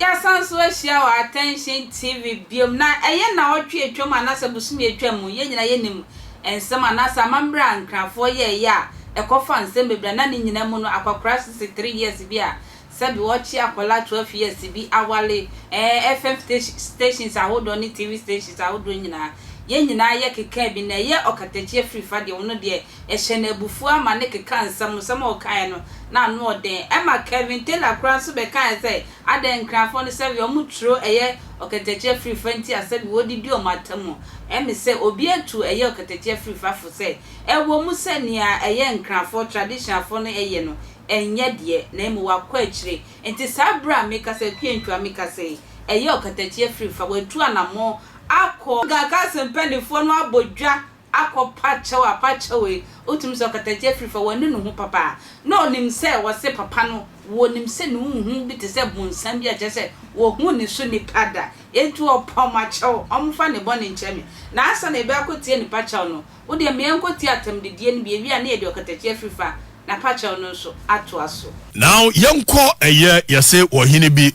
Yɛasan so ahyia wɔ Attention TV biom na ɛyɛ naawɔtwe atwam anaasɛ bosome atwam mu, yɛn nyinaa yɛnim nsɛm anaasɛ amammerɛ a Nkrafoɔ yɛɛyɛ a ɛkɔfa nsɛm bebree a na ne nyinaa mu no akwakoraa 63 years bi a Sɛbi wɔkye akɔla twelve years bi awale ɛɛ FM stations ahodoɔ ne TV stations ahodoɔ nyinaa. Yɛ nyinaa yɛ kekaa bi na ɛyɛ ɔkatakyie afiri fa deɛ ɔno deɛ ɛhyɛ no abufuo ama ne kekaa nsɛm nsɛm a ɔkaeɛ no na ano ɔden ɛma Kevin Taylor koraa nso bɛkaeɛ sɛ adɛn Nkranfoɔ no sɛbi wɔn turo ɛyɛ ɔkatakyie afiri fa nti a sɛbi wɔdidi wɔn atamu ɛme sɛ obi atu ɛyɛ ɔkatakyie afiri fa fo sɛ ɛwɔ mu sɛ nea ɛyɛ Nkranfoɔ traditionalfoɔ no ɛyɛ no ɛnyɛ deɛ, na mmom wakɔ akyire. Enti saa berɛ a meka sɛ Kwiantwaa meka sɛ yi, ɛyɛ ɔkatakyie afiri fa, watu anammɔn akɔ. Ghana Council mpanimfoɔ no abɔ dwa akɔpa kyɛw a pa kyɛw yi, wotumi sɛ ɔkatakyie afiri fa, wanu ne ho papa. Na ɔnim sɛ wɔse papa no, wɔnim sɛ ne ho hu bi te sɛ bonsam bi a kyerɛ sɛ wɔhuu ne so nnipa da. Enti wɔpa wɔn akyɛw, wɔmfa ne bɔne nkyɛ me. Na ansa na yɛbɛakɔtie ne pa kyɛw no, Wo deɛ ma yɛnkɔtie atɛmdedie no bi, ɛwie a na yɛde ɔkatakyie afiri fa na pa kyɛw no nso atoa so. Now yɛnkɔ ɛyɛ yɛse wɔ hene bi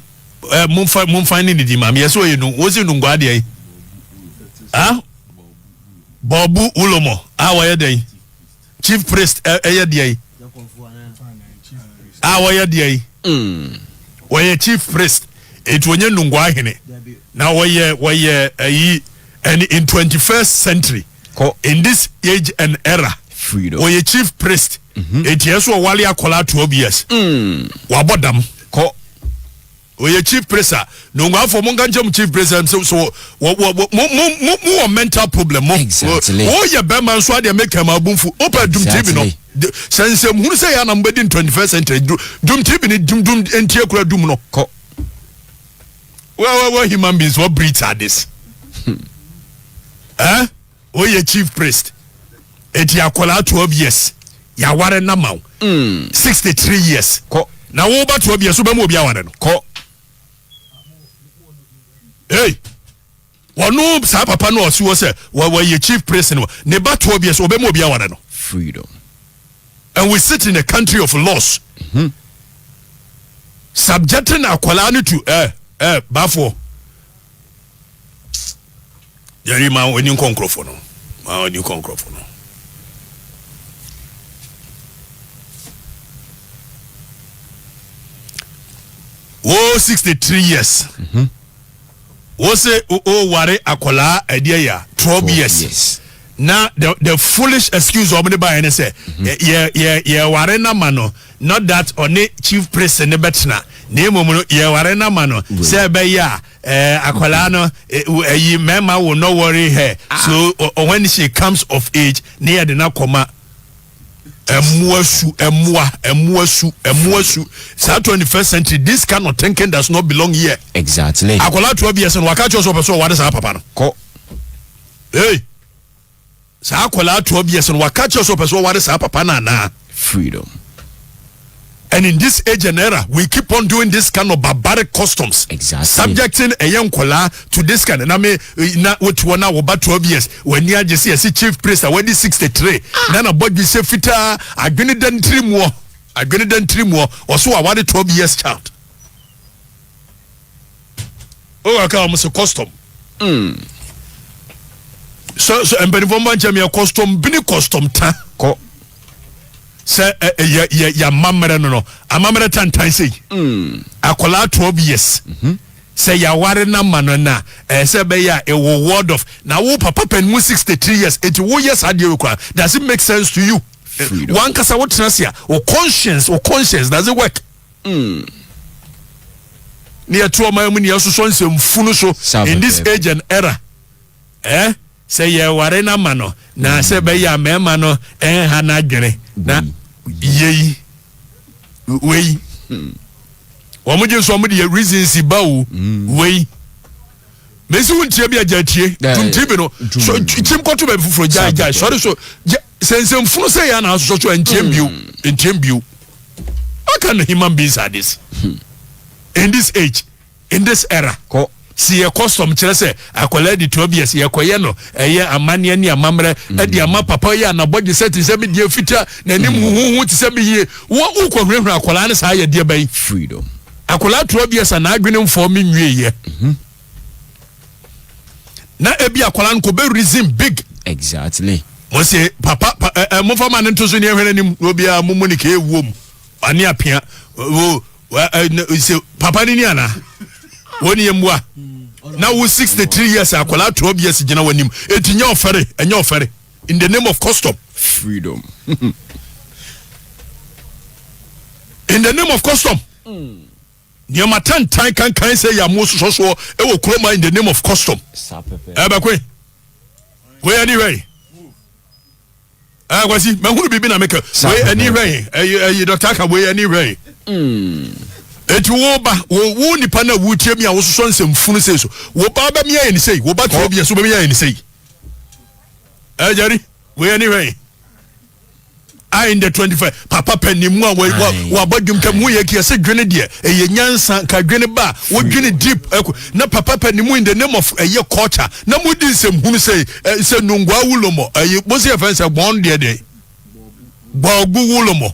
eh momfa momfa ne didi maame yɛse ɔyɛ nu wɔse nungua deɛ yi ah bɔɔbu wulomɔ a wɔyɛ deɛ yi chief priest eh ɛyɛ deɛ yi a wɔyɛ deɛ yi wɔyɛ chief priest eti wɔnyɛ nungua hene na wɔyɛ wɔyɛ ɛyi And in twenty first century, in this age and era, wɔyɛ chief priest. Mm-hmm. Eti ɛso ɔwale akwadaa twelve years. Mm. Wabɔ dam. Kɔ. Ɔyɛ chief priest a nonguafo mo nka nkyɛn mu chief priest ɛm sɛ so wɔ wɔ mo mo mo mo wɔ mental problem mo. Exactly. O yɛ bɛrima nso adeɛ mi kɛmɛ abunfu. O pɛ dum tv no. Sɛ nsɛm hunu sɛ yɛ anam bɛ di twenty first century dum tv ni dum dum ntie kura dum no. Kɔ. Well, well, well, human beings, what breeds are this? Hmm. Eh? Oh, yeah, chief priest. Eti akwala 12 years. Ya ware na maw. Hmm. 63 years. Ko. Na wo ba 12 years, wo ba mu obi aware no. Ko. Hey. Ɔno saa papa no a ɔsi hɔ sɛ wɔyɛ chief priest no, ne ba toɔ bi a, sɛ ɔbɛma obi aware no? Freedom. And we sit in a country of laws. Mm -hmm. Subjecting akwadaa no to eh, eh, bafoɔ. Yɛri ma ɔni nkɔ nkorɔfoɔ no, ma ɔni nkɔ nkorɔfoɔ no. Wo 63 years. Mm -hmm. wo se o ware akwadaa ɛdeɛ ya twelve years na the the foolish excuse ɔmo de ba yɛ ne sɛ yɛ yɛ yɛ ware na ma no not that ɔne chief priest ne bɛtena na emu no yɛ ware na ma no sɛ ɛbɛyɛ a ɛɛ akwadaa no ɛyi mɛma wo no worry her so when she comes of age ne yɛ de na kɔma. Mmoa su, mmoa, mmoa su, mmoa su. Saa 21st century, this kind of thinking does not belong here. Exactly. Akwadaa 12 years no waka kyerɛ sɛ ɔpɛ sɛ ɔware saa papa no. Kɔ. Hey. Saa akwadaa 12 years no waka kyerɛ sɛ ɔpɛ sɛ ɔware saa papa no anaa? Freedom. And in this age and era we keep on doing this kind of barbaric customs exactly. subjecting ɛyɛ nkɔlaa to this kind na me na wote hɔ na wɔba twelve years w'ani agye sɛ yɛsi chief priest a wadi sixty three ah. na na bɔ dwisɛ fitaa adwene da ntiri muɔ adwene da ntiri muɔ ɔso aware twelve years child. Owura kaa wɔn sɛ custom. Mm. Sɛ sɛ mpanimfoɔ mba nkyɛn yɛ custom bini custom ta. Kɔ. Sɛ ɛ ɛ yɛ yɛ yɛ amammerɛ no no amammerɛ tantan sei. Mm. Akwadaa twelve years. Mm -hmm. Sɛ yɛaware no ama no na ɛyɛ sɛ ɛbɛyɛ a ɛwɔ word of na wo papa pɛn mu sixty three years eti woyɛ saa deɛ wɔ kura does it make sense to you? Wankasa wotena se a o conscience o conscience does it work? Hmm. Ne yɛte ɔman mu ne yɛsosɔ nsɛmfunu so in this age and era. Eh? Sɛ yɛware no ama no na sɛ ɛbɛyɛ a mmarima no ɛnha no adwene na yei wei wɔn gye nso wɔn de yɛ reasons ba o hmm. wei mesi wo ntia bi agya tie tunti bi no so kyim kɔto baabi foforɔ gyae gyae sɔre so sɛ nsɛmfunu sɛ yɛ a na asosɔ so ɛntiɛm bio ɛntiɛm hmm. bio What kind of human beings are this? Hmm. In this age, in this era. Kɔ. si yɛ custom kyerɛ sɛ akwadaa di twelve years yɛkɔyɛ no ɛyɛ amanneɛ ne amammerɛ hmm. ɛde ama papa yɛ anabɔgye sɛ te sɛ me deɛ fita n'anim hmm. huhuhu te sɛ me yie wɔ wokɔ hurahura akwadaa no saa yɛdeɛ bɛyi freedom akwadaa twelve years a n'adwene mfɔɔ me nwie yɛ. Mm -hmm. na ebi akwadaa no kò bɛ reason big. exactly. mo se papa pa, ɛ ɛ mo fa ma ne ntoso ni ehwɛ n'anim na obiara mo mo ne kee wuo mu ane apia o ɛ se papa ni ni ana wɔn ni yɛ mua na wo sixty three years akwadaa twelve years gyina wɔn anim eti nyɛ ɔfɛre ɛnyɛ ɔfɛre in the name of custom. freedom. in the name of custom. Mm. Nneɛma tantan kankan sɛ yɛ a mososɔ soɔ wɔ kurom ha in the name of custom. Ɛbɛkwe. Wei ani hwɛ yi. Ɛɛ kwasi mahunu biribi na meka wei ani hwɛ yi ɛyi ɛyi dɔkta aka wei ani hwɛ yi. Eti wo ba wo wo nipa na wo tie mi a wososɔ nsɛm funu sɛ so wo ba bɛ mi ayɛ ne sɛ yi wo ba tura bi yɛ so bɛ mi ayɛ ne sɛ yi. Ɛɛ jari wei ani hwɛ yi. a in the 25 papa panin mu a wabɔ dwom tam woyɛ kia sɛ dwene deɛ ɛyɛ nyansa ka dwene ba wodwene deep ɛko na papa panin mu in the name of ɛyɛ culture na modi nsɛm hunu sɛ sɛ nungua wulomɔ ɛyɛ bosi ɛfɛn sɛ bɔn deɛ deɛ bɔgu wulomɔ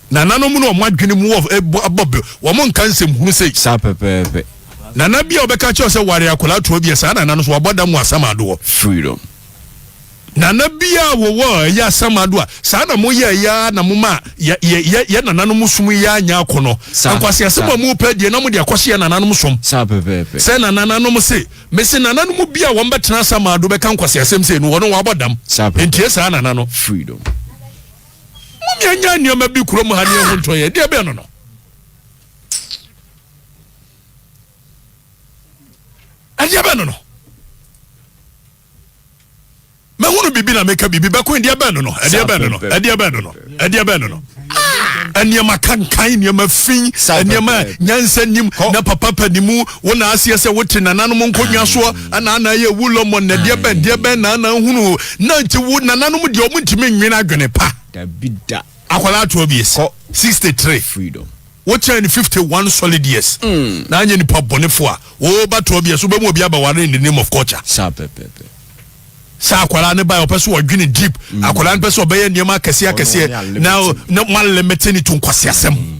Nananom no wɔn adwene mu wɔ eh, bɔ bɛ, wɔn nka nsɛm hunu sei. Saa pɛpɛɛpɛ. Nana bi a ɔbɛka kyerɛ sɛ ware akwadaa toa bi a saa nana no so wabɔ da mu asam adoɔ. Freedom. Nana bi a wɔwɔ ɛyɛ asam adoɔ a saa na mo yɛ ɛyɛ na mo ma yɛ yɛ yɛ yɛ nananom som yɛ anya akɔ no. Nkwasi asɛm a mo pɛ deɛ na mo de akɔhyɛ nananom som. Saa pɛpɛɛpɛ. Sɛ na nananom se mesi nananom bi a wɔn bɛtena asam ado bɛka nkwasi asɛm sei no wɔn wɔabɔ dam. Saa pɛpɛɛpɛ. Ntie saa nana no. Freedom. Mo nea nya nneɛma bi kurom ha ne ɛho ntɔn yɛ deɛ bɛn no no. Ɛdeɛ bɛn no no. Mɛhunu biribi na mɛka biribi bɛko ɛdeɛ bɛn no no ɛdeɛ bɛn no no ɛdeɛ bɛn no no ɛdeɛ bɛn no no. Nneɛma kankan nneɛma fi nneɛma nyansa nim na papa pa ne mu Wo na aseɛ sɛ wote nananom nkonnwa soɔ ɛna ana yɛ wu lɔmɔ na deɛ bɛn deɛ bɛn na ana nhunu na nti wo nananom deɛ ɔmo ntumi nwene adwene pa dabi da akwadaa ato abiesa sixty three freedom wokyɛn ne fifty one solid years mm. na anyɛ nipa bɔnefo a wɔba to abiesa wobɛmu obi abaware in the name of culture saa pɛpɛpɛ sɛ akwadaa ne ba ɔpɛ so ɔdwene deep mm. akwadaa no pɛ so ɔbɛyɛ nneɛma akɛseɛ akɛseɛ na na mo alemete ne to nkwaseasɛm mm.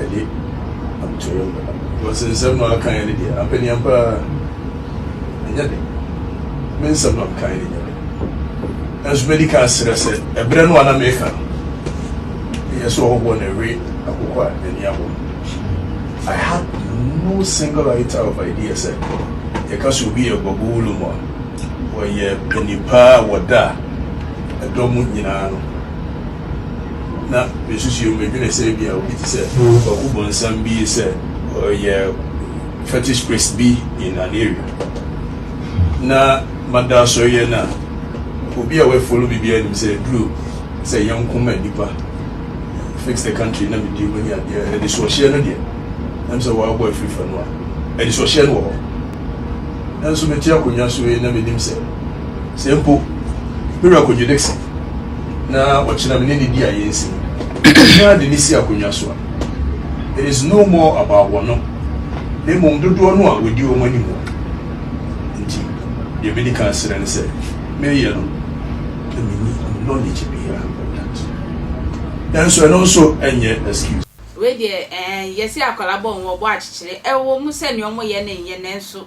Ɛde atwerɛ no a. Wɔse nsɛm no akaeɛ no deɛ ampaneam paa ɛnyɛ den. Me nsɛm no a mekaeɛ no nyɛ den. Nanso mɛdi kan asrɛ sɛ ɛberɛ no a na mereka no, meyɛ sɛ ɔhɔhoɔ na ɛwe akokɔ a n'ani abɔ no. I had no single iota of idea sɛ yɛka sɛ obi yɛ Gbagbolum a, ɔyɛ panipaa a wɔda ɛdɔ mu nyinaa no. na mesusuee mu, medwenee sɛ ebia obi te sɛ Kwaku Bonsam bi yi sɛ ɔyɛ fetish priest bi in an area. Na mada asɔreyɛ no a, obi a wafolo me biara nim sɛ aduru sɛ yɛn nko ma nnipa, fix the country na medi mu ne adeɛ. Anisoɔhyeɛ no deɛ, na mesɛ wɔabɔ afiri fa no a, anisoɔhyeɛ no wɔ hɔ. Nanso mete akonnwa so yi na menim sɛ, sɛ mpo me werɛ kɔdwo Dickson, na ɔkyena me ne no di a yɛnsi no ara de ne si akonnwa so a, it is no more about wɔn no, na mmom dodoɔ no a wɔdi wɔn anim wɔ. Nti, deɛ medi kan asrɛ ne sɛ meyɛ no, na menni knowledge biara about that. Nanso ɛno nso ɛnyɛ excuse. Wei deɛ ɛɛn, yɛse akwadaa bɔ nwoma, ɔbɔ akyekyere. Ɛwɔ mu sɛ nea wɔyɛ no nyɛ nanso